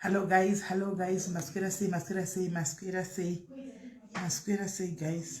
Hello guys, hello guys, maswera sei, maswera sei, maswera sei, maswera sei guys.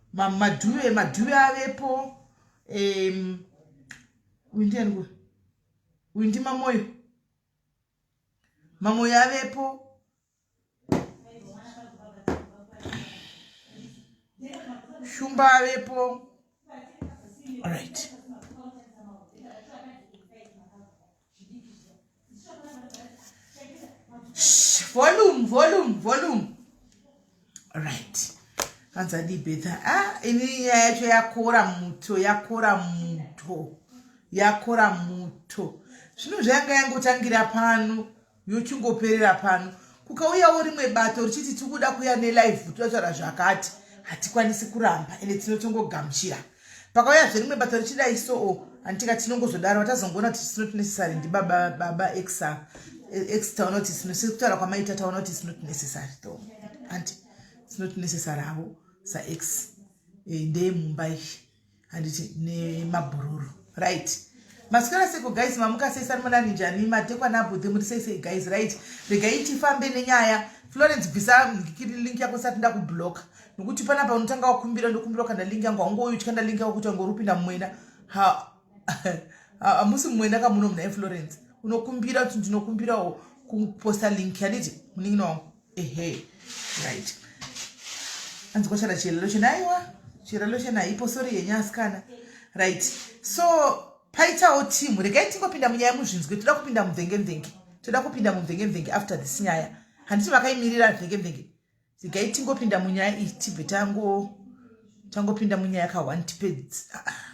madhuve madhuve avepo um, uyu ndiani kuwe uyu ndimamoyo mamoyo avepo shumba avepo allright volume volume volume right hanzi adii betha ah, ini nyaya yacho yakora muto yakora muto yakora muto zvino zvayanga yangotangira pano yochingoperera pano kukauyawo rimwe bato richiti tikuda kuya nelive totaura zvakati hatikwanisi kuramba ende tinotongogamuchira pakauya zverimwe bato richidai soo anditika tinongozodaro vatazongoona kuti it's not necessary ndibaba baba exa ex taona kuti sinosiri kutaura kwamaita taona kuti it's not necessary tho anti it's not necessary havo saex eh, ndeye mumba izvi handiti nemabhururu right masikana seko guys mamuka sei sanimonani njani matekwa nabudhe muri sei sei guys right regai tifambe nenyaya florence bvisa link yako sati ndakubloka nokuti panapa unotanga wakumbira ndokumbira kana link yangu haungouyi uchikanda link yako kuti wangorupinda mumwena hamusi mumwena kamuno muna inflorence unokumbira kuti ndinokumbirawo kuposta link yanditi munin'ina wangu ehe right anzi kwashara chirelo chena aiwa chirelo chena haipo sori yenyu asikana right so paitawo timu regai tingopinda munyaya muzvinzwe toda kupinda mumvengemvenge toda kupinda mumvengemvenge after this nyaya handiti vakaimirira mvengemvenge regai tingopinda munyaya iyi tibve tango tangopinda munyaya ka one tipedzi ah, ah,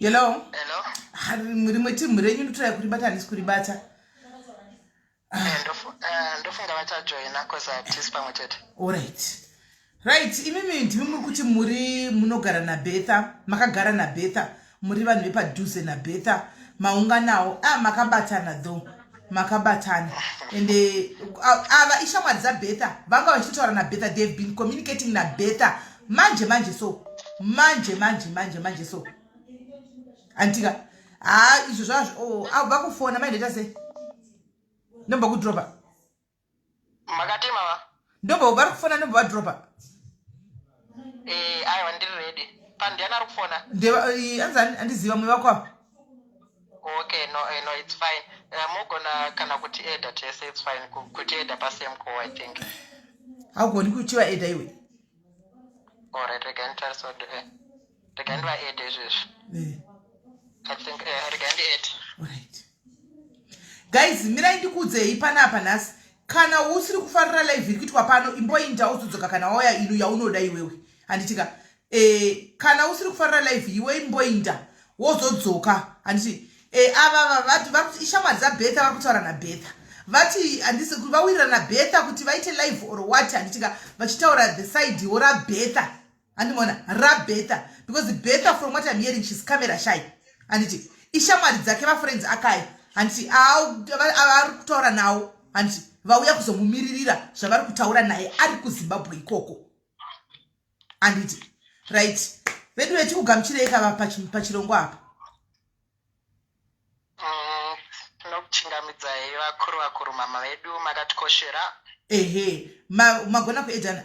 hello rimwe timhu renyu ndotorai kuribata handisi kuribata ah. eh, eh, ndofunga vachajoina bcause hatisi pamwe chete orit right imimi ndimi muri kuti muri munogara nabetha makagara nabetha muri vanhu vepadhuze nabetha maunganawo a ah, makabatana though makabatana ende ava ah, ishamwari dzabetha vanga vachitotaura nabetha they have been communicating nabetha manje manje so manje manje manje manje so antika haa ah, izvo zvazvo oh, ava kufona maindoita sei ndomba kudropa makatema va ndobva vari kufona ndobva vadropa eh aiwa ndiri ready pandiani ari kufona ndeva eh, anzi ani- andiziva mwe vako ava okay no eh, no it's fine Eh, mogona kana kuti eda tese it's fine Ku- kuti eda pasame call i think haugoni kuchiva eda iwe alright rega nditarisode eh. rega ndivaede izvezvi rega ndiede guys mirai ndikuudzei panapa nhasi kana usiri kufarira live iri kuitwa pano imboinda uzodzoka kana wauya ino yaunoda iwewe handitika e, eh, kana usiri kufarira live iwe imboinda wozodzoka handiti e, eh, ava vati vakuti ishamwari dzabetha vari kutaura nabetha vati handisi vawirirana betha kuti vaite live or what handitika vachitaura the side wo rabetha handimona rabetha because betha from what im hearing shes camera shy handiti ishamwari dzake vafriends akai handiti avari kutaura nawo handiti vauya kuzomumiririra zvavari kutaura naye ari kuzimbabwe ikoko handiti right vedu vetikugamuchirei kava pachirongwa apa kuchingamidzai vakuru vakuru mama vedu makatikoshera ehe magona kuedana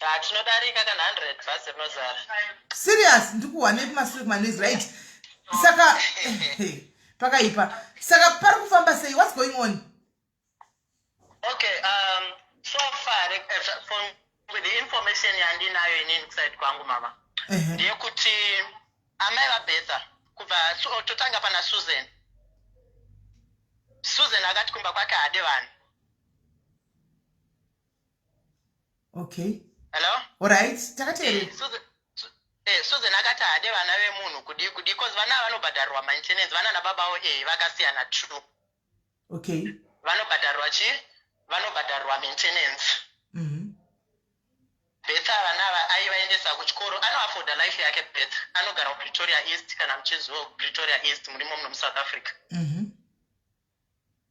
Ah, tinodarika kana 100 bhazi rinozara. serious ndikuwanei kumasure kumanezi right saka pakaipa saka pari kufamba sei what's going on Okay, um, so far, like, uh, so- from with the information yandinayo inini kuside kwangu mama Ehe. ndeyekuti amai vabetha kubva so, totanga pana susan susan akati kumba kwake haade vanhu okay hello alright takateerera eh, Susan, su, eh, Susan akati haade vana vemunhu kudii kudii cause vana vanobhadharirwa maintenance vana nababa avo eh vakasiyana true okay vanobhadharirwa chii vanobhadharirwa maintenance mm -hmm. betha vana ava aivaendesa kuchikoro anoafoda life yake betha anogara kupretoria east kana muchizivo kupretoria east murimo muno musouth africa mm -hmm.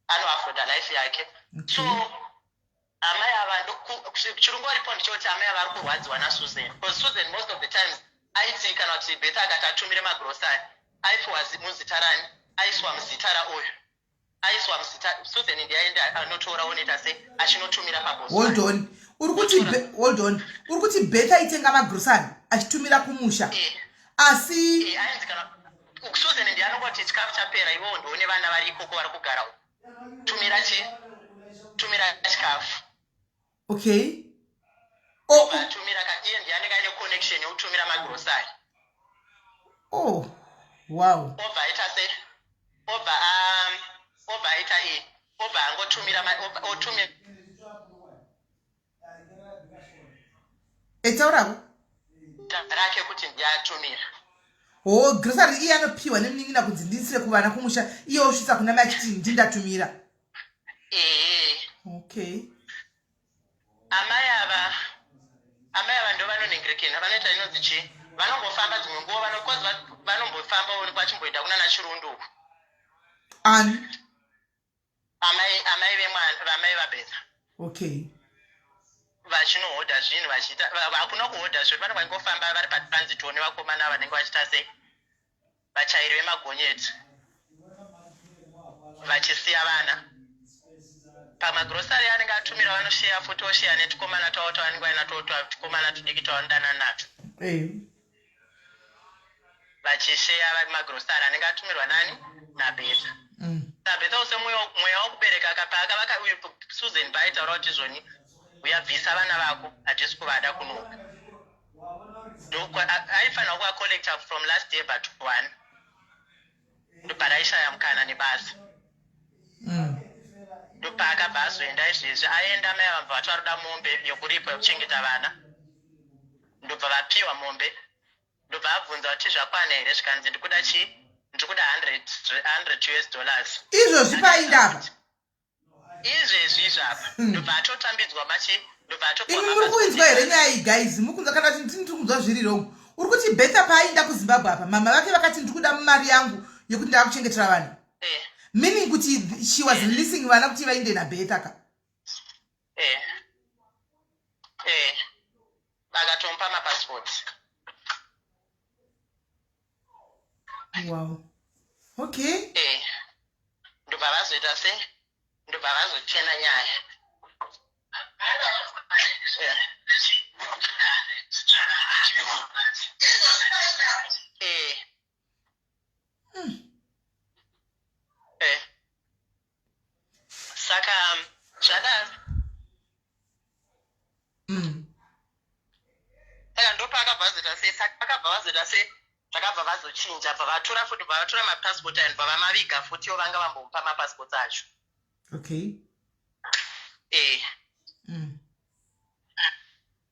anoafoda life yake so amai ava chirungu oripo ndichoti amai ava ari kurwadziwa nasusan bcause susan most of the times aiti kana kuti beth akati atumire magrosari aipiwa muzita rani aiswa muzita raoyo aiswa muzita susan ndi aende anotora oneta se achinotumira pabosoldon uri kuti oldon uri kuti beth aitenga magrosari achitumira kumusha eh. asi eh, Susan ndiye anongo kuti chikafu chapera iwewo ndiwo nevana vari ikoko vari kugara uko tumira chi tumira chikafu okay oh. tumira ka iye ndiye anenge aine connection yekutumira magrosari oh wow obva aita se obva um, obva aita e obva angotumira otumira etauravo rake kuti ndiatumira ho oh, grocery iye anopiwa nemunin'ina kunzi ndiisire kuvana kumusha iye osvitsa kuna mai achiti ndindatumira ee okay amai ava amai ava ndo vanonhengerekena vanoita inonzi chii vanombofamba dzimwe nguva vanokozi vanombofamba onekwa achimboenda kunana chirundu uku ani amai amai vemwana vamai vabetha okay vachinohodha zvinhu vachiita hakuna kuhodha zvinhu vanenge vachingofamba vari patransit one vakomana vanenge vachiita sei vachairi vemagonyeti vachisiya vana pamagrosari anenge atumira vanosheya futi osheya netikomana twavo twavanenge vaina twotwa tukomana tudiki twavanodanana natwo vachisheya vari magrosari anenge atumirwa nani nabetha mm. sabetha use mweya wokubereka ka paakavaka susan baitaura kuti izvoni uyabvisa vana vako hatisi kuvada kunoka aifanira kuvacollecta from last year but one ndoparaishaya mukana nebasa mm. ndopaakabva mm. azoenda izvezvi aenda mai avamva vati varoda mombe yokuripwa yokuchengeta vana ndobva vapiwa mombe ndobva abvunza kuti zvakwana here zvikanzi ndikuda chii ndikuda 100 us dollars izvozvi paindapa izvezvi izvi apa hmm. ndobva atotambidzwa machi ndobva atoimi muri kuinzwa here nyaya iyi guys mukunzwa kana kuti ndini tiri kunzwa zviri rong uri kuti betha paainda kuzimbabwe apa mama vake vakati ndiri kuda mari yangu yekuti ndava kuchengetera vanhu eh. meaning kuti she was releasing vana kuti vainde nabetha ka eh eh vakatompa mapassport wow okay eh ndobva vazoita se ndobva vazochena nyaya eh. eh mm. eh. saka um, zvadaro mm. saka ndopaakabva vazoita sei saka vakabva vazoita sei vakabva vazochinja bva vatora futi bva vatora mapassport and bva vamaviga futi o vanga vambomupa mapassport acho okay eh. mm.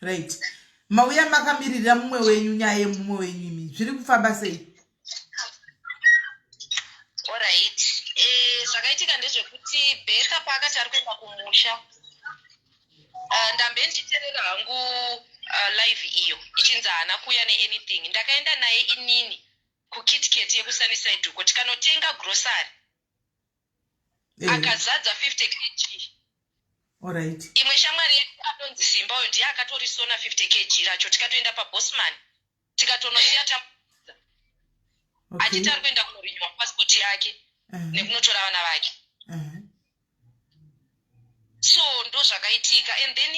right mauya makamiririra mumwe wenyu nyaya yemumwe wenyu imi zviri kufamba sei orit eh, zvakaitika ndezvekuti beka paakati ari kuenda kumusha eh, ndambe ndichiterera hangu eh, live iyo ichinzi haana kuuya neanything ndakaenda naye inini kukitket yekusuniside uko tikanotenga grocery eh. akazadza 50 kg Alright. imwe shamwari yedu anonzi simba uyo ndiye akatorisona 50 kg racho tikatoenda pabosman tikatonosiya eh. tamudza okay. achiti ari kuenda kunorinywa passport yake uh -huh. nekunotora vana vake uh -huh so ndo zvakaitika and then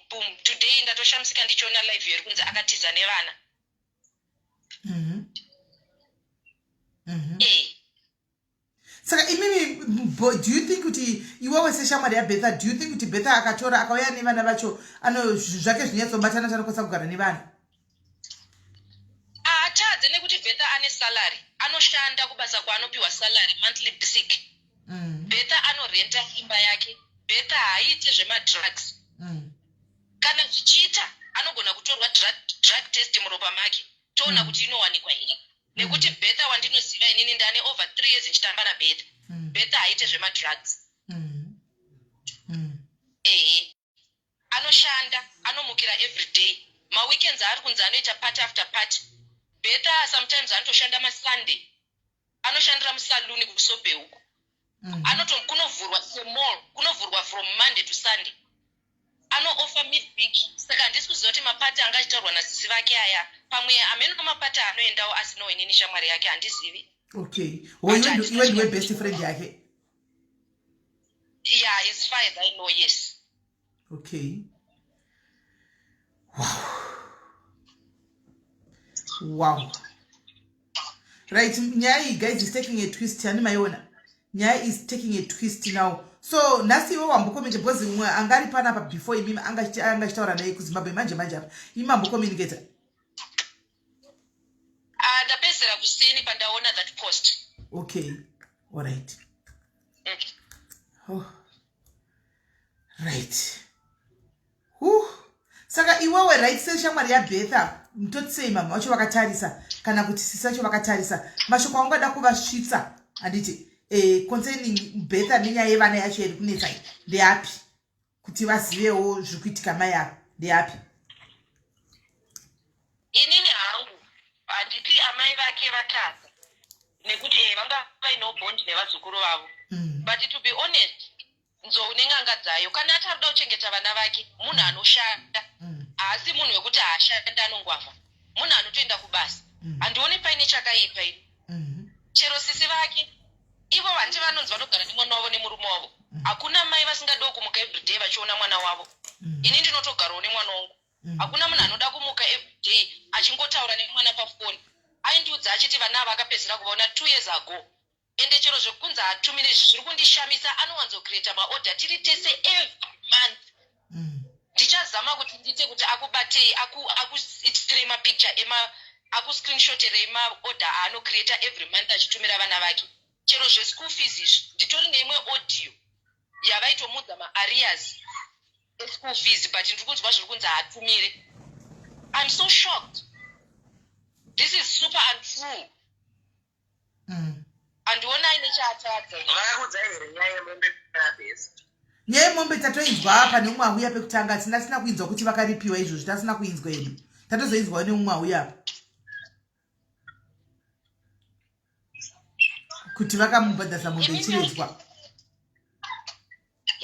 boom today ndatoshamisika ndichiona live yeri kunzi akatiza nevana mm -hmm. Mm -hmm. e saka imimi do you think kuti iwewe seshamwari yabetha do you think kuti betha akatora akauya nevana vacho ano zvake zvinyatsobatana kuti anokwanisa kugara nevanhu ahatadze nekuti betha ane salary anoshanda kubasa kwaanopiwa salary monthly basic mm. betha anorenta imba yake betha haaite zvemadrugs mm. kana zvichiita anogona kutorwa drug test muropa make toona mm. kuti inowanikwa here nekuti mm. betha wandinoziva inini ndane over three years ndichitamba nabetha mm. betha haite zvemadrugs ehe anoshanda anomukira everyday maweekends aari kunzi anoita party after party betha sometimes anotoshanda masunday anoshandira musaluni kusobe uku mm. anoto kunovhurwa semall kunovhurwa from monday to sunday anoofa midweek saka handisi kuziva kuti mapati anga achitaurwa nasisi vake aya pamwe amene amapati anoendawo asinawo inini shamwari yake handizivi okay hoyuiwe ndiwe best friend yake yeah as far as i know yes okay wow wow right nyaya iyi guys is taking a twist yani maiona nyaya is taking a twist now so nhasi iwe wambokomenta because mwe anga ari panapa before imimi anga achitaura naye kuzimbabwe manje manje apa imi mambokomuniketa ah, ndapedzera kuseni pandaona that post okay allright mm. oh. right huh. saka iwewe right seshamwari yabetha mtotisei mamwe vacho vakatarisa kana kuti sisi vacho vakatarisa mashoko aungada kuvasvitsa handiti eh, concerning betha nenyaya yevana yacho yari kunetsa i ndeapi kuti vazivewo zviri kuitika mai avo ndeapi Inini hangu handiti amai vake vatadza nekuti eh, vanga vaino bond nevazukuru vavo mm. but to be honest nzou nen'anga dzayo kana ati arikuda kuchengeta vana vake munhu mm. anoshanda mm. haasi munhu wekuti haashanda anongwavha munhu anotoenda kubasa mm. handione paine chakaipa ini mm-hmm. chero sisi vake ivo vandi vanonzi vanogara nemwana wavo nemurume wavo mm. hakuna mai vasingadiwo kumuka everyday vachiona mwana wavo mm. ini ndinotogarawo nemwana wangu mm. hakuna munhu anoda kumuka everyday achingotaura nemwana pafoni aindiudza achiti vana ava akapedzera kuvaona two years ago ende chero zvekunzi hatumire izvi zviri kundishamisa anowanzocreata maorder tiri tese every month mm. ndichazama kuti ndiite kuti akubatei akuitirei mapicture ema akuscreenshoterei maorder aanocreata every month achitumira vana vake chero zveschool fees izvi nditori neimwe audio yavaitomuudza maarias eschool fees but ndiri kunzwa zviri kunzi haatumire im so shocked this is super untrue mm. andiona aine chaatadza vakakudzai here nyaya yemombe abest nyaya yemombe tatoinzwa apa neumwe auya pekutanga tisina tisina kuinzwa kuti vakaripiwa izvozvi tasina kuinzwa edu tatozoinzwawo neumwe auya apa kuti vakamubhadhasa mombe ichiredzwa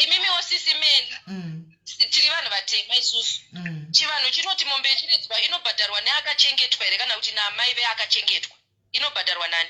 imimiwo sisi meni mm. tiri vanhu vatema isusu mm. chivanhu chinoti mombe ichiredzwa inobhadharwa neakachengetwa here kana kuti naamai veakachengetwa inobhadharwa nani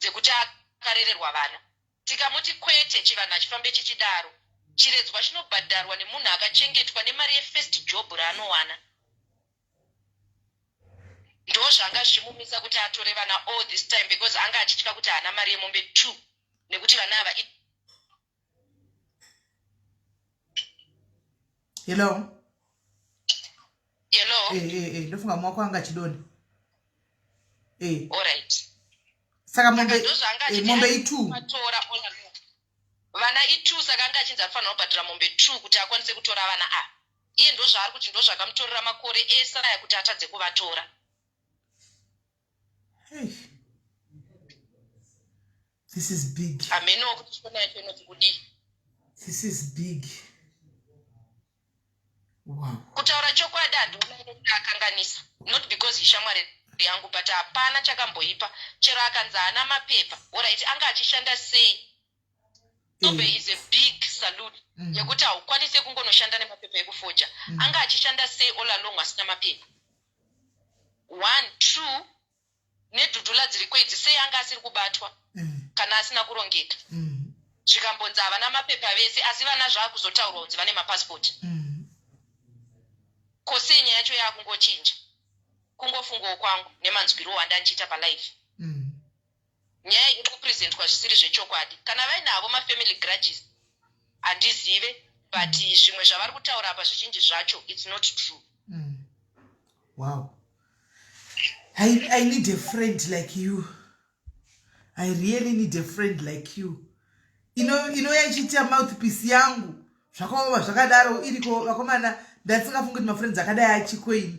dzekuti akarererwa vana. Tikamuti kwete chivanhu hachifambe chichidaro. Chiredzwa chinobhadharwa nemunhu akachengetwa nemari yefirst job raanowana. Ndozvanga zvichimumisa kuti atore vana all this time because anga achitya kuti haana mari yemombe two nekuti vana ava i. hello hello eh hey, eh, hey, eh, hey. ndofunga mwako anga chidoni eh hey. all right saka mombe eh, mombe itu matora ona vana itu saka anga achinzi afanira kubhadhara mombe t kuti akwanise kutora vana a iye ndozvaari kuti ndozvakamutorera makore ese aya kuti atadze kuvatora Eish. This is big. Ameno kuchikona yacho inoti kudi. This is big. Wow. Kutaura chokwadi handiona inoti akanganisa. Not because ishamwari yangu but hapana chakamboipa chero akanzi haana mapepa orit anga achishanda sei tobe mm. is a big salute mm. yekuti haukwanise kungonoshanda nemapepa ekufoja mm. anga achishanda sei olalong asina mapepa one two nedhudhula dziriko idzi sei anga asiri kubatwa mm. kana asina kurongeka mm. zvikambonzi havana mapepa vese asi vana zvaakuzotaurwa kunzi vane mapasipoti mm. ko sei nyaya yacho yaakungochinja kungofungawo kwangu nemanzwiro wanda ndichiita palife nyaya iri kupresentwa zvisiri zvechokwadi kana vaine havo mafamily grudges handizive but mm. zvimwe zvavari kutaura apa zvichinji zvacho its not true mm. wow I, i need a friend like you i really need a friend like you inouya ichiita mouthpiece yangu zvakaoma zvakadaro iriko vakomana ndatisingafungi kuti mafriends akadai achikoini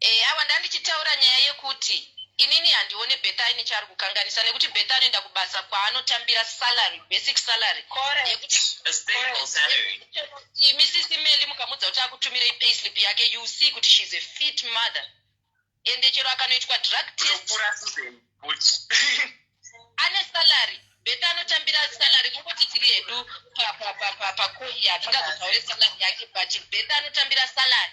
Eh awa ndandichitaura nyaya yekuti inini handione Bertha aine chaari kukanganisa nekuti Bertha anoenda kubasa kwaanotambira salary, basic salary yekuti imi sisi Melly mukamudza kuti akutumirei payslip yake you see kuti she is a fit mother ende chero akanoitwa drug test ane salary beta anotambira salary kungoti tiri hedu pakoi yatingazotaure salary yake but beta anotambira salary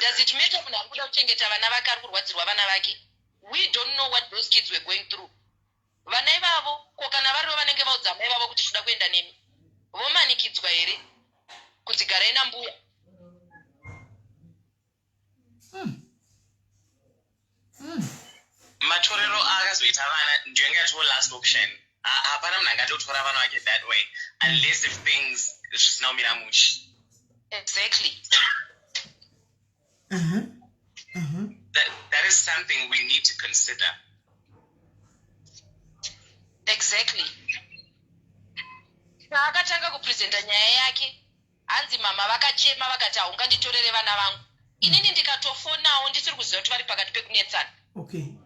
does it matter munhu ari kuda kuchengeta vana vake ari kurwadzirwa vana vake we don't know what those kids were going through vana ivavo ko kana varivo vanenge vaudza amai vavo kuti tinoda kuenda nemi vomanikidzwa here kunzi garai nambuya hmm. matorero aakazoita vana ndiyo yanga yatoo last option hapana munhu angatotora vana vake that way unless if things zvisina kumira mushe exactly uh -huh. Uh -huh. That, that is something we need to consider exactly paakatanga kupresenta nyaya yake Hanzi mama vakachema vakati haunganditorere vana vangu inini ndikatofonawo ndisiri kuziva kuti vari pakati pekunetsana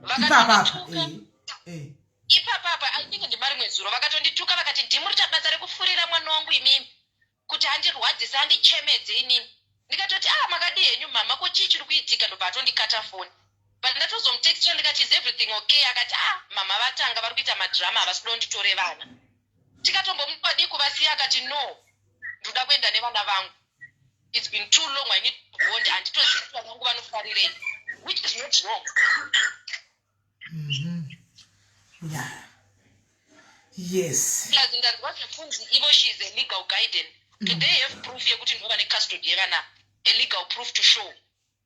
vakatondituka eh, eh. ipapapa i think ndimarimwe zuro vakatondituka vakati ndimuri tabasa rekufurira mwana wangu imimi kuti andirwadzise andichemedze inini ndikatoti a ah, makadii henyu mama ko chii chiri kuitika ndobva atondikata foni but ndatozomutextra ndikati is everything okay akati a ah, mama vatanga vari kuita madrama havasi kuda unditore vana tikatombomupa dii kuvasiya akati no ndoda kuenda nevana vangu its been too long i need to bond handitozivi kuti vana vangu vanofarirei which is not wrong mm-hmm. yeah. yes plus ndanzwa zvekunzi ivo she is a legal guidance do they have proof yekuti ndova necustody yevana a legal proof to show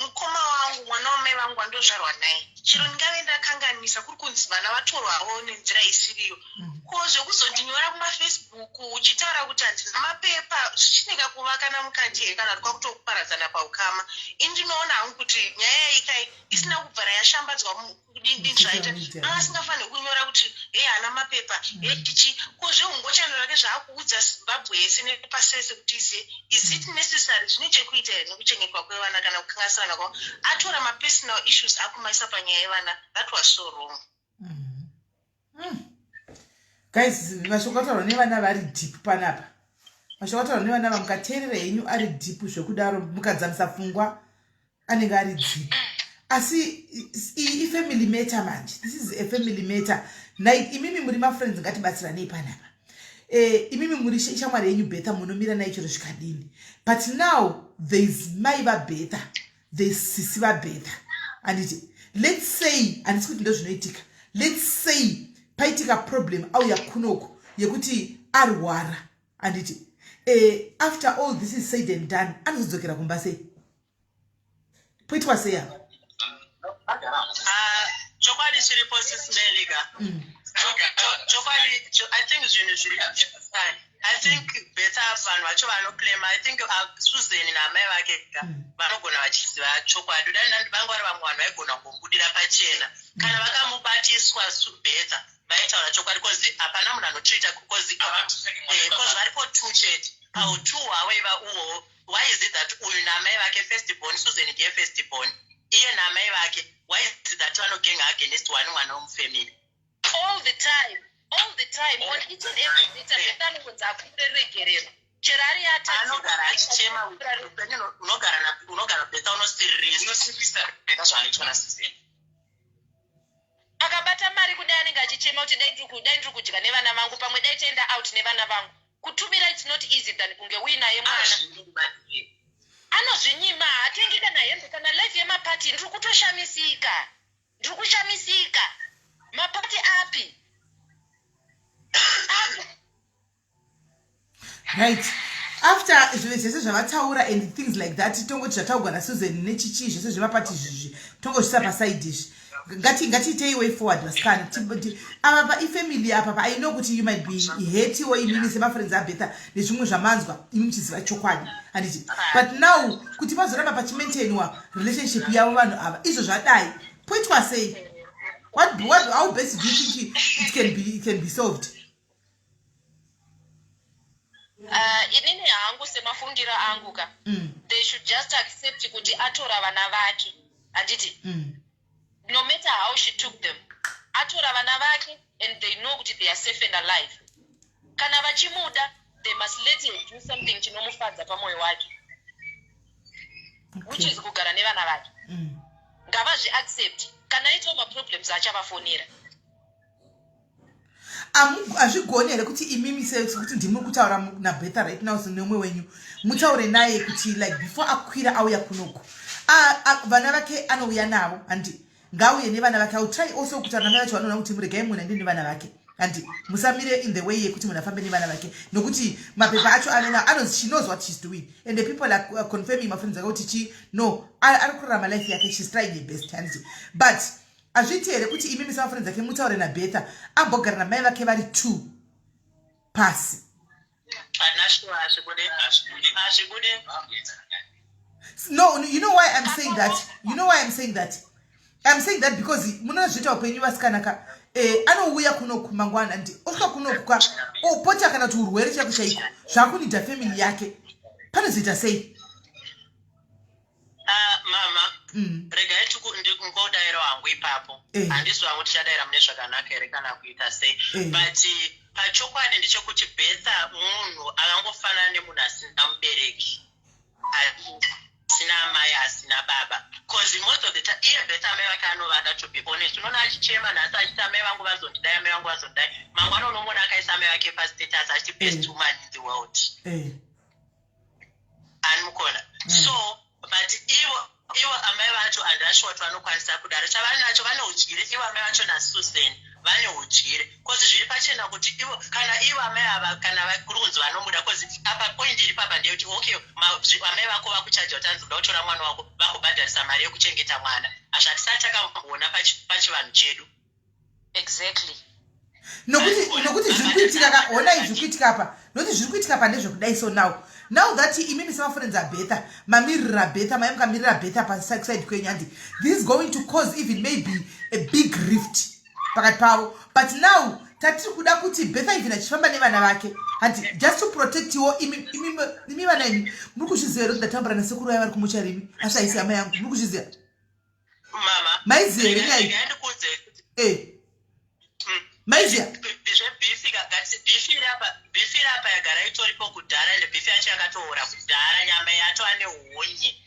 mukoma wangu mwana wamai vangu wandozvarwa naye chero ndingave ndakanganisa kuri kunzi vana vatorwawo nenzira isiriyo mm. ko zvekuzondinyora kumafacebook uchitaura kuti handina mapepa zvichineka kuva kana mukati here kana kuti kwakutokuparadzana paukama ini ndinoona hangu kuti nyaya yaikai isina kubvara yashambadzwa kudini zvaita asingafaniri kunyora kuti e haana mapepa e chichi ko zveungochano rake zvaakuudza zimbabwe yese nepasese kuti izive is it necessary zvine chekuita here nekuchengetwa kwevana kana kukangasirana kwavo atora mapersonal issues akumaisa panyaya yevana that was so wrong mm. mm. guys mashoko ataurwa nevana vari deep panapa mashoko ataurwa nevana va mukateerera henyu ari deep zvekudaro mukadzamisa pfungwa anenge ari deep asi ifamily matter manje this is a family matter nai imimi muri mafriends ngatibatsiranei panapa eh, imimi muri shamwari yenyu betha munomira nai chero zvikadini but now there is mai vabetha the sisi vabhetha anditi lets say handisi kuti ndozvinoitika lets say paitika problem auya kunoku yekuti arwara anditi uh, after all this is said and done anozodzokera kumba sei poitwa sei apa ah, chokwadi chiripo sismelika mm. chokwadi i think zvinhu zviri i think better vanhu vacho vanoclaima i think uh, susan naamai vake ka hmm. vanogona vachiziva chokwadi uda nandi vanga vari vamwe vanhu vaigona kumbudira pachena hmm. kana vakamubatiswa better vaitaura chokwadi bcause hapana munhu anotrita bcause eh, varipo two chete hmm. au two hawaiva uwo why is it that uyu naamai vake first born susan ndiye first born iye naamai vake why is it that vanogenga against one mwana womufamily all the time all the time on each and every meter satani kunzi akuite regerero chero ari yatanogara achichema unogara unogara beta unosiririsa unosiririsa beta zvaanoitwa nasizeni akabata mari kudai anenge achichema kuti dai ndiri kudai ndiri kudya nevana vangu pamwe dai chaenda out nevana vangu kutumira its not easy than kunge uinaye mwana anozvinyima haatengi kana hembe kana life yemapati ndiri kutoshamisika Ndiri kushamisika. Mapati api? Api? right after zvinhu zvese zvavataura and things like that tongoti zvataugwa nasusan nechichii zvese zvemapati izvizvi tongozvisa pasaidi izvi ngati ngatiitei way forward vasikana Ti- ava pa ifamily apa pa i know kuti you might be hatiwo imimi semafriends abetha nezvimwe zvamanzwa imi muchiziva chokwadi handiti but now kuti pazoramba pachimaintainwa relationship yavo vanhu ava izvo zvadai poitwa sei what, what, how best do you think it can be, it can be solved uh, inini hangu semafungiro angu ka mm. they should just accept kuti atora vana vake handiti mm. no matter how she took them atora vana vake and they know kuti they are safe and alive kana vachimuda they must let her do something chinomufadza pamoyo wake which is kugara nevana vake mm. ngavazvi accept kana aitawo maproblems achavafonera hazvigoni here kuti imimi sekuti ndimuri kutaura nabetha right now sinomwe wenyu mutaure naye kuti like before akwira auya kunoku vana vake anouya navo handi ngauye nevana vake autry also kuti anamai vacho vanoona kuti muregai munhu aende nevana vake handi musamire in the way yekuti munhu afambe nevana vake nokuti mapepa acho ave nao anozi she knows what she's doing and the people are uh, confirming mafriends ake kuti chi no ari kurarama life yake she's trying her best handi but Hazviite here kuti imimi samafoni dzake mutaure naBetha ambogara namai vake vari two pasi? No, you know why I'm saying that? You know why I'm saying that? I'm saying that because munozviita upenyu vasikana ka eh, anouya kunoku mangwana and osvika kunoku ka opota kana kuti urwere chaiko chaiko zvakunidha family yake panozoita sei? Ah, mama Mm. regai tiku- ndikungodaira wangu ipapo Eh. handisi wangu tichadaira mune zvakanaka here kana kuita sei Eh. but pachokwadi ndechekuti betha munhu akangofanana nemunhu asina mubereki asina amai asina baba bcause most of the time iye betha amai vake anovada to be honest unoona achichema nhasi achiti amai vangu vazondidai amai vangu vazondidai mangwana unomona akaisa amai vake pastatus achiti best Eh. woman in the world Eh. anmukona mm. so but ivo ivo amai vacho andasho wati vanokwanisa kudaro chavaninacho vane udyire ivo amai vacho nasusan vane udyire bcause zviri pachena kuti ivo kana ivo amai ava kana kuri kunzi vanomuda bcause apa point iri papa ndeyekuti okay amai vako vakuchaja kuti anzi uda kutora mwana wako vakubhadharisa mari yekuchengeta mwana hazvatisati takamboona pachivanhu chedu exactly nokuti nokuti zviri kuitika ka ona izvi kuitika pa nokuti zviri kuitika pa ndezvekudai so now now that imimi semafriends abetha mamirira betha mai mukamirira betha paside kwenyu handi this is going to cause even maybe a big rift pakati pavo but now tatiri kuda kuti betha even achifamba nevana vake handi just to protect wo imi vana imi muri kuzviziva here kuti ndatambura nasekuru vaya vari kumucha rimi asi haisi hama yangu muri kuzviziva maiziya here nyaya eh. hmm. maiziya zvebifi kakati bifi rapa bifi rapa yagara itoripo kudhara ende bifi yacho yakatoora kudhara nyama yacho ane hunye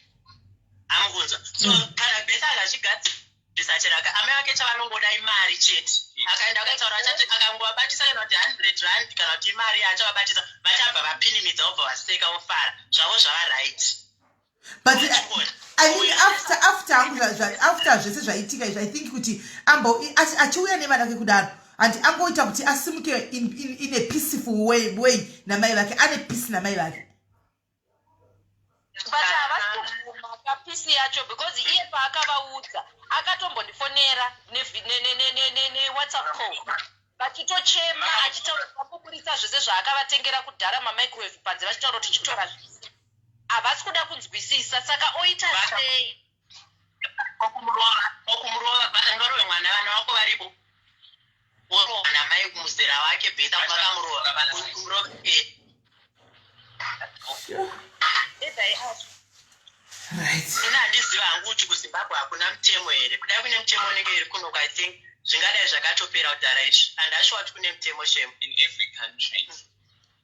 amukunzwa so hmm. kana besa akazvigadzira ndisachiraka amai vake chavanongoda imari chete akaenda akaitaura achati akangovabatisa kana kuti hundred rand kana kuti imari yacho vabatisa vachabva vapinimidza vobva vaseka vofara zvavo zvava right but I mean after after after zvese zvaitika izvi i think kuti ambo achiuya nevana vake kudaro handi angoita kuti asimuke in, in, in a peaceful way, way namai vake ane peace namai vake pisi yacho because iye paakavaudza akatombondifonera newhatsapp call vachitochema achitaura vakuburitsa zvese zvaakavatengera kudhara mamicrowave panze vachitaura kuti chitora zvese Havasi kuda kunzwisisa saka oita sei? Okumurova, okumurova basa ngarove mwana vana wako varipo. Worova namai kumuzera wake beta vakamurova vana kumurova. Eh. Edai acho. Right. Ini handiziva hangu kuti kuZimbabwe hakuna mutemo here. Kudai kune mutemo unenge iri kuno I think zvingadai zvakatopera kudhara izvi. And ashuwa kuti kune mutemo shame. in every country.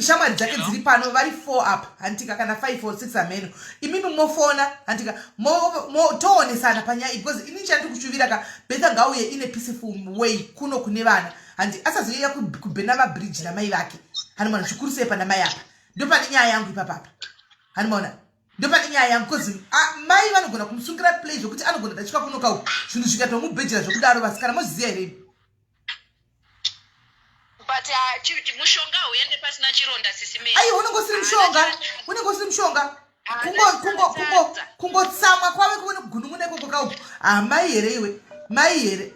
shamwari dzake dziri pano vari four up hantika kana five or six ameno imimi mofona hantika toonesana panyaya iyi because ini chandiri kushuvira ka betha ngauye ine peaceful way kuno kune vana handi asazoyeuya kubhena mabridge namai vake hanimona zvikuru sei pana mai apa ndopane nyaya yangu ipapapa hanimona ndopane nyaya yangu bcause mai vanogona kumusungira play zvekuti anogona dachika kunoka zvinhu zvikatomubhejera zvekudaro vasikana mozviziva here but uh, chi- chi- mushonga hauende pasina chironda sisi me ayi unenge usiri mushonga unenge usiri mushonga Kungo- kungo- kungo- kungotsamwa kwave kuve nekugunun'una ikoko kauku ah mai here iwe mai here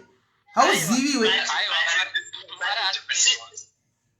hauzivi iwe Aiwa, mara- mara-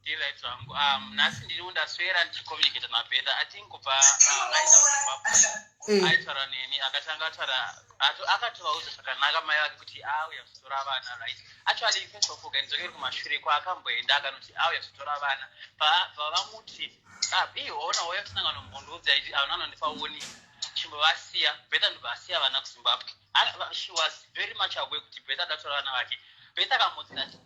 Ndiright zvangu. Um, nhasi ndiri undaswera ndichicommunicate naBetha. I think kubva uh, aenda kuZimbabwe. Eh. Aitaura neni akatanga ataura ato- akatovaudza zvakanaka mai vake kuti auya kuzotora vana right. Actually first of all kandidzokeri kumashure kwaakamboenda akanoti auya kuzotora vana. Pa- Pavamuti ah bii waona wauya kusangano mbondiudza iti avana anondipa woni chimbovasiya Betha ndobva asiya vana kuZimbabwe. Ana- va- She was very much aware kuti Betha akatora vana vake. Betha akamuudza ati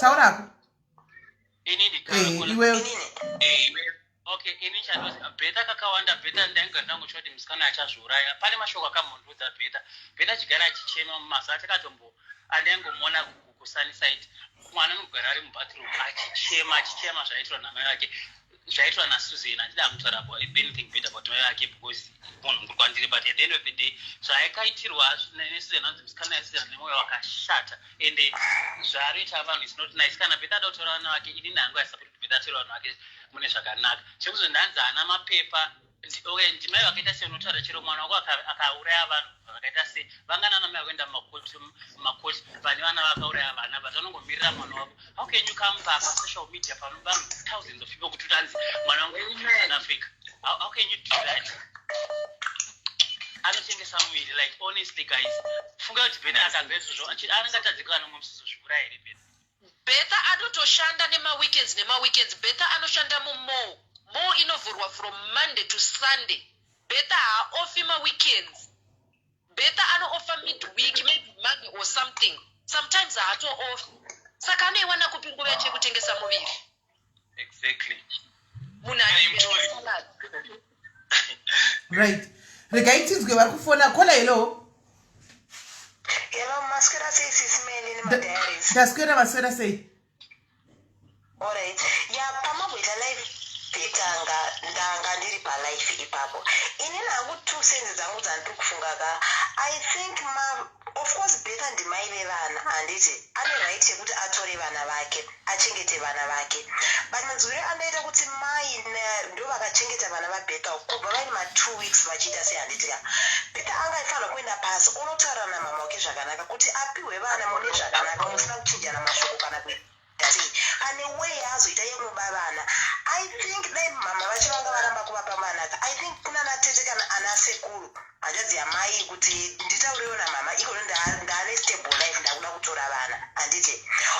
taura hako inini eh, iwe eh, okay ini chandozi bheta kakawanda bheta ndainga ndangu choti musikana achazviuraya pane mashoko akamhundudza bheta bheta chigara achichema mumaza achakatombo andaingomona kukusanisaiti mwana anogara ari mubathroom achichema achichema zvaitirwa namai vake zvaitwa nasusan handida hangu kutaura about anything bad about mai vake because munhu mukuru kwandiri but at the end of the day zvaakaitirwa nesusan hanzi musikana yasusan nemwoyo wakashata ende zvaarioita vanhu is not nice kana bhedha ada kutaura vana vake inini hangu aisapoti bhedha ataura vanhu vake mune zvakanaka chekuzo ndanzi haana mapepa okay ndimai vakaita sei unotaura chero mwana wako akauraya vanhu vakaita sei vangana namai vakuenda mumakoti mumakoti vane vana vakauraya vana but vanongomirira mwana wako how can you come papa social media pano vanhu thousands of people kuti utanzi mwana wangu south africa how, how can you do that anotengesa muviri like honestly guys funga kuti bene akanzwa izvozvo anenge atadzikana mumsiso zvivura here bene Bertha anotoshanda nema weekends nema weekends Bertha anoshanda mu mall mall inovhurwa from Monday to Sunday Bertha haaofi ma weekends Bertha anoofa mid week maybe Monday or something sometimes haatoofi saka anoiwana kupi nguva yake yekutengesa muviri exactly munhu right regai tinzwe vari kufona kola hello hello maswera sei sisi mene nemadiaries ndaswera maswera sei alright ya pamamboita live petanga ndanga ndiri palife ipapo inini hangu two sense dzangu dzandiri kufunga ka i think ma Of course Becca ndimai vevana handiti ane right yekuti atore vana vake achengete vana vake but manzwire andaita kuti mai Naya ndovakachengeta vana vaBecca kubva vaine ma two weeks vachiita sei handiti ka Becca anga aifanirwa kuenda pasi onotaura namhamha wake zvakanaka kuti apihwe vana mune zvakanaka musina kuchinjana mashoko kana kuita Daddy pane way yaazoita yekuba vana I think dai mhamha vacho vanga varamba kuvapa mwana ka I think kunana tete kana ana sekuru hanzvadzi yamai kuti nditaurewo namhamha ikono nda- ndaane stable life ndakuda kutora vana handiti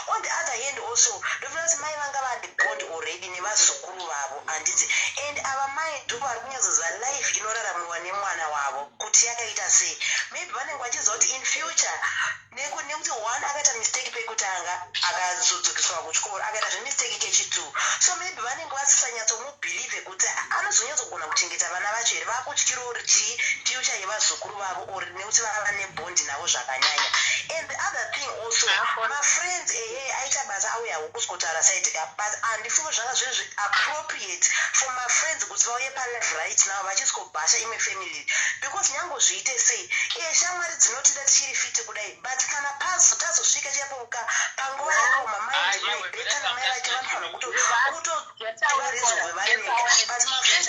on the other hand also ndofunga kuti mai vanga vane bond already nevazukuru vavo handiti and ava mai ndo vari kunyatsoziva life inoraramiwa nemwana wavo kuti yakaita sei maybe vanenge vachiziva kuti in future Neku, nekuti one akaita mistake pekutanga akazodzokeswa kuchikoro akaita zvemistake kechitu so maybe vanenge vasisanyatsomubhilive kuti anozonyatsogona kuchengeta vana vacho here vakutyira or chii future yevazukuru vavo or nekuti vava nebondi navo zvakanyanya and the other thing also mafriends ehe aita basa auya hukuzkotaura side ka but handifunge zvanga zviri zviappropriate for mafriends kuti vauye palife right now vachizkobhasha imwe family iri because nyango zviite sei iye shamwari dzinotida tichiri fiti kudai but kana pazo tazosvika chapoka panguva yakaoma maindi maibeta namai vake vanofanira kuto kutovarezvogwe vaeneka but mafriends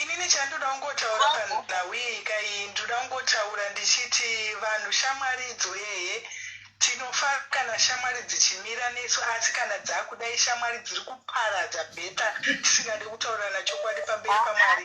inini chandoda kungotaura panhau iyi kai ndoda kungotaura ndichiti vanhu shamwari idzo eye tinofa kana shamwari dzichimira nesu asi kana dzakuda ishamwari dziri kuparadza bheta tisingade kutaurirana chokwadi pamberi pamwari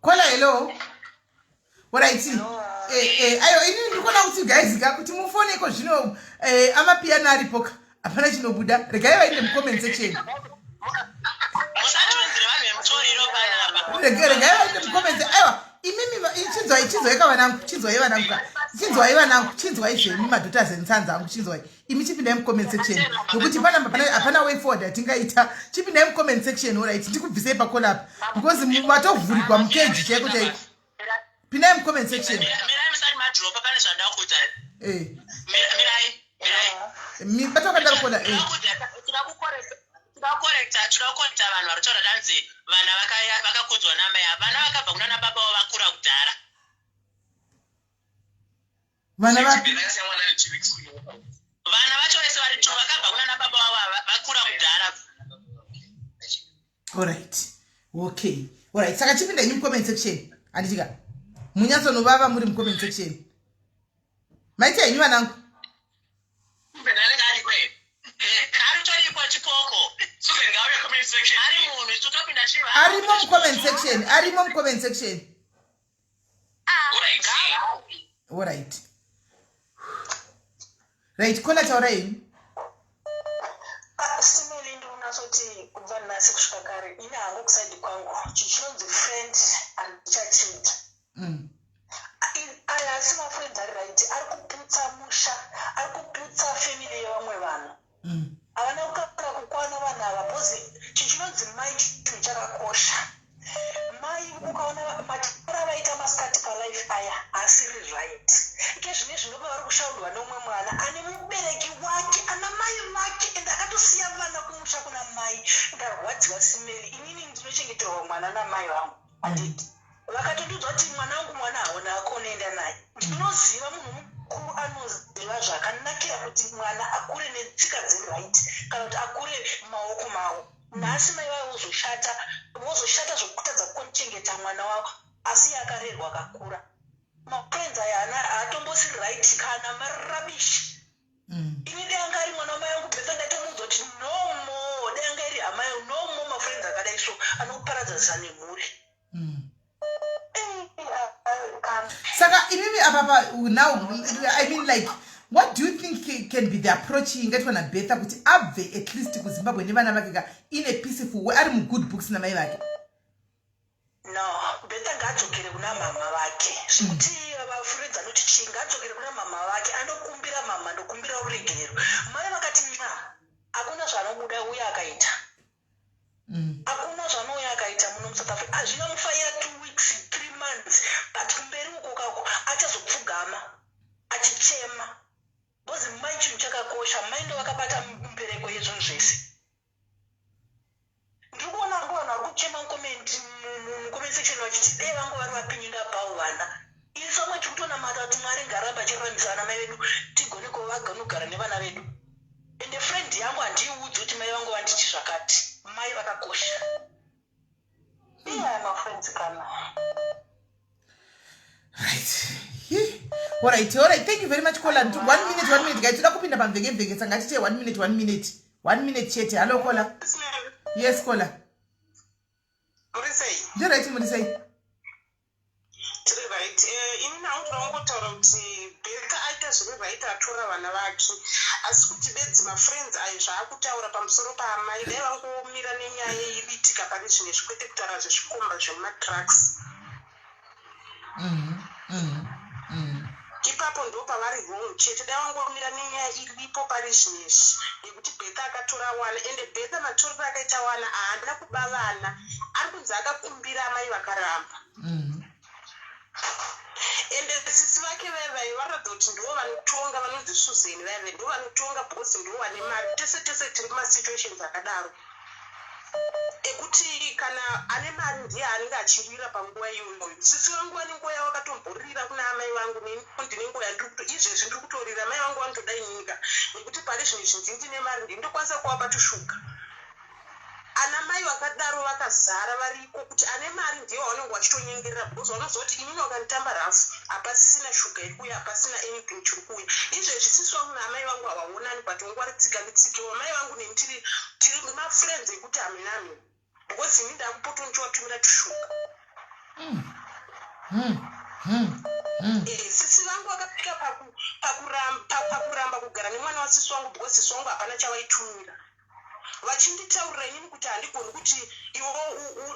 kola hello orit eh, eh, ayo ini ndikona kuti gaizika kuti mufone iko zvino eh, amapiyano aripoka hapana chinobuda regai vainde mucomment section regai vainde mucomment aiwa imimi chinzwai chinzwai kavanangu chinzwai vanangu ka chinzwai vanangu chinzwai zvemi madotas ensanza angu chinzwai imi chipindai mucomment section nokuti hapana way forward yatingaita chipindai mucomment section orit ndikubvisei pakolapa because matovhurigwa mukeji chaiko chaiko pindai mucomment section batokadakola tinokorekta tinokorekta vanhu vari kutaura danzi vana vakakudzwa namai vana vakabva kunana baba wo vakura kudhara vana vapi vana vacho vese vari two vakabva kuna nababa vavo vakura mudhara orit okay orit saka chipinda nyu mucomment section handitika munyatsonovava muri mucomment section maita henyu vanangu arimo mucomment section arimo mucomment section Alright. Right, kona taura ini. Simili ndi unazoti kubva nasi kusvika kare ini hangu kusaidi kwangu chichinonzi friend and churchmate. Mm. Aya asi mafriends ari right ari kuputsa musha ari kuputsa family yevamwe vanhu. havana kukaka kukwana vanhu ava bcoz chinhu chinonzi mai chinhu chakakosha mai ukaona matara vaita masikati palife aya asiri right ike zvine zvinova vari kushaurwa neumwe mwana ane mubereki wake ana mai vake ende akatosiya vana kumusha kuna mai ndarwadziwa simeli inini ndinochengeterwa mwana namai vangu handiti vakatotudzwa kuti mwana wangu mwana haona ako unoenda naye ndinoziva munhu mukuru anoziva zvakanakira kuti mwana akure netsika dzeright kana kuti akure maoko mavo nhasi mai vavo vozoshata vozoshata zvokutadza kuchengeta mwana wavo asi yakarerwa akakura mafriends aya ana haatombosiri right kana marabishi mm. ini dai anga ari mwana wamai angu besa ndatomuudza kuti no more dai anga iri amai angu no more mafriends akadai so anokuparadzanisa nemhuri mm. saka imimi apapa now i mean like what do you think can be the approach ingaitwa nabetha kuti abve at least kuzimbabwe nevana vake ka in a peaceful way ari mugood books namai vake No, Betha ngaadzokere kuna mhamha vake. Zvekuti vafuredza noti chii ngaadzokere kuna mhamha vake anokumbira mhamha ndokumbira ruregerero. Mai vakati nxa hakuna zvaanobuda uye akaita. Mm. Hakuna zvaanouya akaita muno muSouth Africa. Hazvina mufaira two weeks, three months but kumberi uko kako achazopfugama achichema. Because mai chinhu chakakosha, mai ndovakabata mbereko yezvinhu zvese. ndikuona vangu vanhu vari kuchema mucomment mucomment section vachiti dee vangu vari vapinyinga pawo vana ini somwe tiri kutonamata kuti mwari ngaramba achiruramisira vana mai vedu tigone kuva vaganogara nevana vedu ende friend yangu handiiudzi kuti mai vangu vanditi zvakati mai vakakosha Alright, alright. Thank you very much, Kola. One minute, one minute. Guys, toda kupinda pamveke vheke sanga tite one minute, one minute. One minute chete. Hello, Kola. Yes, Kola. Murisei. Ndiraiti murisei. Tiri right. Eh, ini nangu ndinongotaura kuti Becca aita zviri right atora vana vake. Asi kuti bedzi mafriends ayo zvaakutaura pamusoro paamai dai vangomira nenyaya iyi bitika pane zvimwe zvikwete kutaura zvezvikomba zvemumatrucks. Mm -hmm. Mm -hmm. Ipapo ndopavari wrong chete dai wangomira nenyaya iripo parizvinoizvi yekuti Bertha akatora wana ende Bertha matorero akaita wana ahana kuba vana arikunzi akakumbira amai vakaramba ende sisi vake vaye vaye vanoratidza kuti ndivo vanotonga vanonzi Susan vaye vaye ndivo vanotonga bhosi ndivo vane mari tese tese tiri mumasituations akadaro ekuti kana ane mari ndiye anenge achirira panguva iyoyo sisi vangu vane nguva yavo vakatomborira kuna amai vangu neni ndine nguva yandiri kuto izvezvi ndiri kutorira amai vangu vanotoda inyika nekuti pari zvino izvi ndii ndine mari ndii ndokwanisa kuvapa tushuga ana mai vakadaro vakazara vari ko kuti ane mari ndiye wavanenge vachitonyengerera because vanoziva kuti inini vakanditamba rafu hapasisina shuga iri kuuya hapasina anything chiri kuuya izvezvi sisi vangu naamai vangu havaonani but vangu vari tsika netsiki vamai vangu neni tiri tiri mafriends ekuti haminami because ini ndakupoto ndichivatumira tushuga mm. mm. mm. mm. eh, sisi vangu vakapika pakuramba kugara nemwana wasisi wangu because sisi wangu hapana chavaitumira vachinditaurira inini kuti handigoni kuti iwo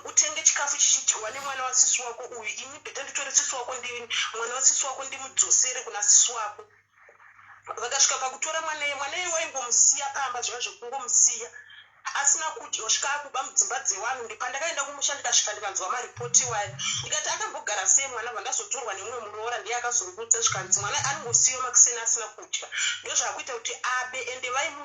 utenge chikafu chichidyiwa nemwana wasisi wako uyu ini bheta nditore sisi wako ndini mwana wasisi wako ndimudzosere kuna sisi wako vakasvika pakutora mwaneye mwaneye waingomusiya pamba zviva zvekungomusiya asina kudya kusvika akuba mudzimba dzewanhu ndipandakaenda kumusha ndikasvika ndikanzwa maripoti iwayo ndikati akambogara sei mwana vandazotorwa nemumwe muroora ndiye akazongutsa zvikanzi mwana anongosiyiwa makuseni asina kudya ndozvakuita kuti abe ende vaimu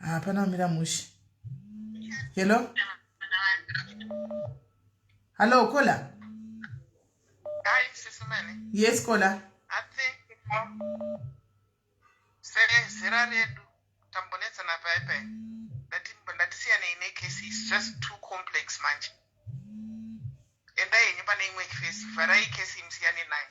hapana kumira mushe hello hallo kola yes kola sezera redu tambonetsana pai pai ndatisiyanei nekesi is just too complex manje endai henyu pane imwe kesi vharai kesi imsiyane nayo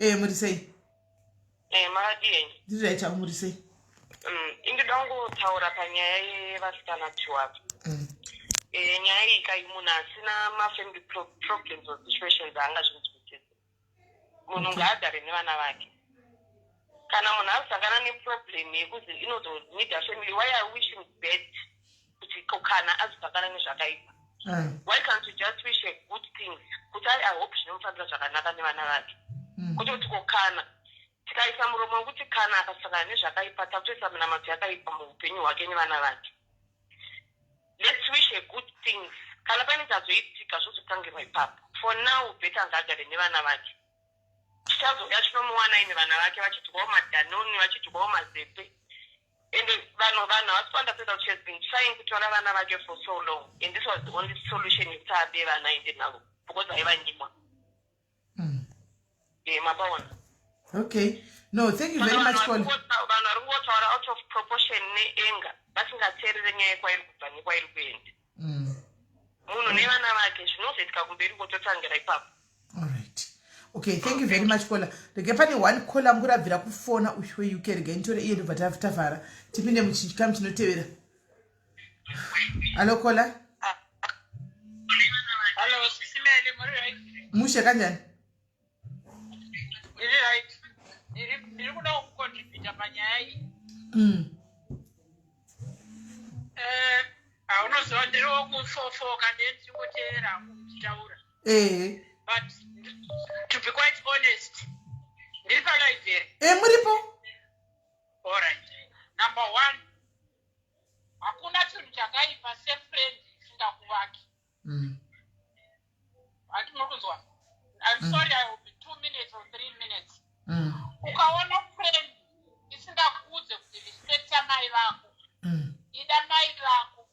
ee muri sei ee makadii ndiri rai chavo muri sei mm, indida kungotaura panyaya yevasikana tiwavo mm. ee nyaya iyi kai munhu asina mafamily problems or situations aanga zvinzwisise munhu ngaagare nevana vake kana munhu asangana neproblem yekuzi inozonida family why are wishing bad kuti kana azipakana nezvakaipa why can't you just wish a good thing kuti ari ihope zvinomufambira zvakanaka nevana vake mm. kuti kuti kokana tikaisa muromo wekuti kana akasangana nezvakaipa takutoisa minamato yakaipa muupenyu hwake nevana vake let's wish a good things kana pane chazoitika zvozotangirwa ipapo for now beta ngaagare nevana vake chichazouya chinomuwanai nevana vake vachidyawo madanoni vachidyawo mazepe and vanhu vanhu havasi kuunderstanda kuti she has been trying kutora vana vake for so long and this was the only solution yekuti abe vana aende navo because aivanyimwa mm. eh, mapaona okay no thank you very much vanhu vari kungotaura out of proportion neanger vasingateerere nyaya kwairi kubva nekwairi kuenda mm. munhu nevana vake zvinozoitika kumberi kototangira ipapo alright okay thank you very much kola rege pane one kola angu rabvira kufona uyu weuke rega initore iye ndobva tavhara tipinde muchikamu chinotevera alo kola ah, ah. mushe kanjani Ndiri right. Ndiri ndiri kuda kucontributa panyaya iyi. Mm. Eh, haunoziva ndiri wokufofoka ndiye ndiri kuteera muchitaura. Ehe. But to be quite honest, ndiri palibrary. Eh muripo? All right. Number one, hakuna chinhu chakaipa sefriend isingakuvaki. mm. hati munokunzwa i'm mm. sorry i will be two minutes or three minutes mm. ukaona friend isingakuudze kuti respecta mai vako mm. ida mai vako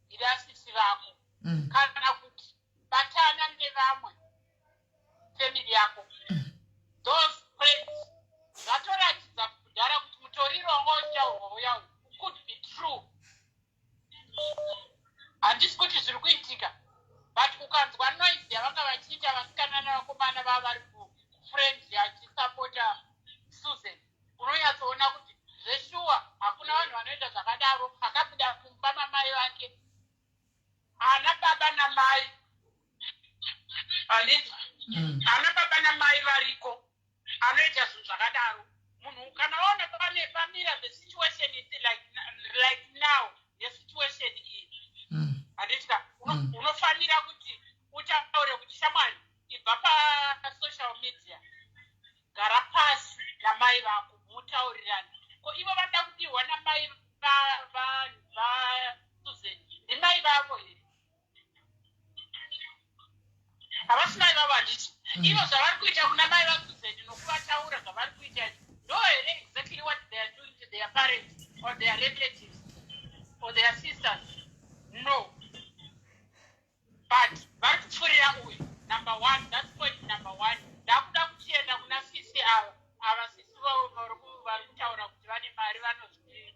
ida sisi vako mm. kana kuti batana nevamwe family yako mm. those friends zvatoratidza kudhara kuti mutorirongo chaurwo yau could be true handisi kuti zviri kuitika but ukanzwa noise yavanga vachiita vasikana nevakomana vava vari kufriend yachisapota susan unonyatsoona kuti zveshuwa hakuna vanhu vanoita zvakadaro akabuda kumba mamai vake ana baba namai mm. ana baba namai variko anoita zvinhu zvakadaro munhu ukanaona pane pamira the situation is like, like now nesituation iyi mm. handitika mm. unofanira kuti utaure kuti shamwari ibva pasocial media gara pasi namai vako mutaurirani ko ivo vada kudirwa namai vasusan ndimai vavo here havasi mai vavo handiti mm. ivo zvavari kuita kuna mai vakuzeni nokuvataura zvavari kuita ndo here exactly what they are doing to their parents or their relatives or their sisters no but vari kupfurira uyu number one that's point number one ndakuda kuchienda kuna sisi ava ava sisi vavo vari kutaura kuti vane mari vanozvii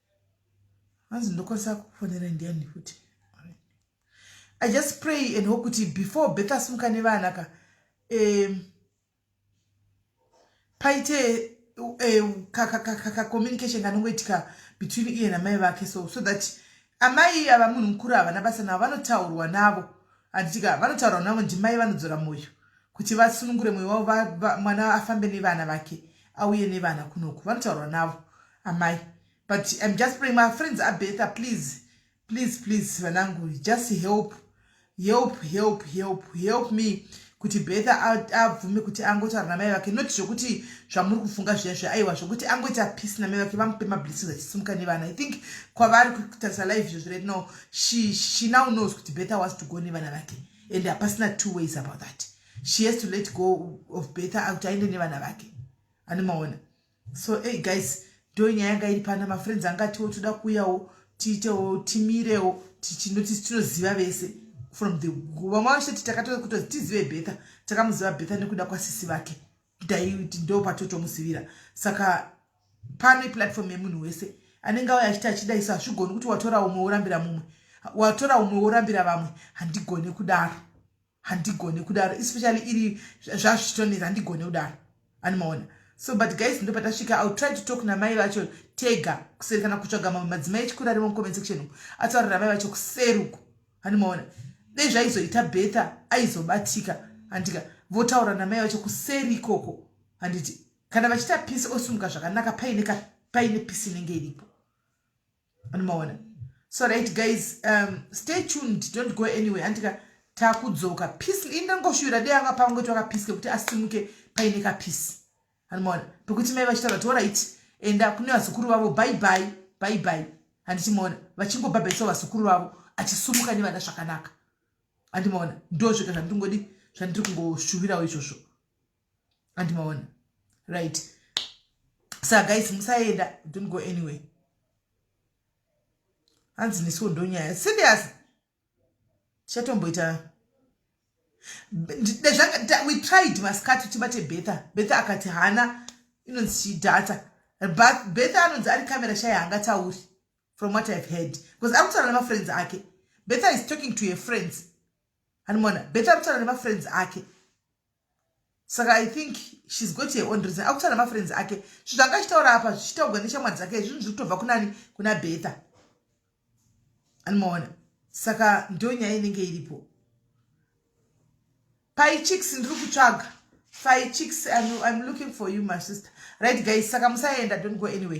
hanzi ndokwanisa kufonera ndiani futi i just pray and hope kuti before beth asimuka nevana ka um, paite um, kacommunication kanongoitika between iye namai vake so so that amai ava munhu mukuru havana basa navo vanotaurwa navo handitika vanotaurwa navo ndimai vanodzora mwoyo kuti vasunungure mwoyo wavo mwana afambe nevana vake auye nevana kunoku vanotaurwa navo amai but im just praying my friends abetha please please please vanangu just help help help help help me kuti betha abvume kuti angotaura namai vake not zvokuti zvamuri kufunga zviya zviya aiwa zvokuti angoita peace namai vake vamupe mablessings achisimuka nevana i think kwavari kutarisa live izvozvi right now she, she now knows kuti betha was to go nevana vake and hapasina two ways about that she has to let go of betha kuti aende nevana vake anomaona so hey guys ndo nyaya yanga iri pana mafriends anga atiwo toda kuuyawo tiitewo timirewo tichinoti tinoziva vese from the vamwe vachitoti takatoa kutozi tizive betha takamuziva betha nekuda kwasisi vake daiti ndo patotomusivira saka pano iplatform yemunhu wese anenge auya achiti achida isu hazvigoni kuti watora umwe worambira mumwe watora umwe worambira vamwe handigone kudaro handigone kudaro especially iri zvazvichitonetsa handigone kudaro animaona so but guys ndo patasvika ill try to talk namai vacho tega kuseri kana kutsvaga mamwe madzimai echikuru arimo mucomment section umu ataurira mai vacho kuseruku animaona dei zvaizoita betha aizobatika handika votaura namai vacho kuseri ikoko handiti kana vachita pisi osumuka zvakanaka paine pisi inenge iripo anomaona so right guys um, stay tuned don't go anyway andika takudzoka peace ini ndangoshuvira dei anga pangu kuti wakapeace kekuti asimuke paine kapeace anomaona pekuti mai vachitaura ti orit enda kune vazukuru vavo bye bye bye bye handichimaona vachingobhabhaisa vazukuru vavo achisumuka nevana zvakanaka handimaona ndozvega zvandingodi zvandiri kungoshuvirawo izvozvo and maona right sa guys musaenda don't go anywhere hanzi nesiwo ndonyaya serious tichatomboita we tried maskati tibate betha betha akati hana inonzi chidhata but betha anonzi ari camera shaya hangatauri from what ihave heard because ari kutaura nemafriends ake betha is talking to her friends hanimona betha ari kutaura nemafriends ake saka i think shes got her own reason akutana mafriends ake zvinhu zvanga achitaura apa zvichitaurwa neshamwari dzake zvinhu zviri kutobva kunani kuna betha anomaona saka ndonyaya inenge iripo paichiks ndiri kutsvaga faichiks im looking for you my sister right guys saka musaenda don't go anyway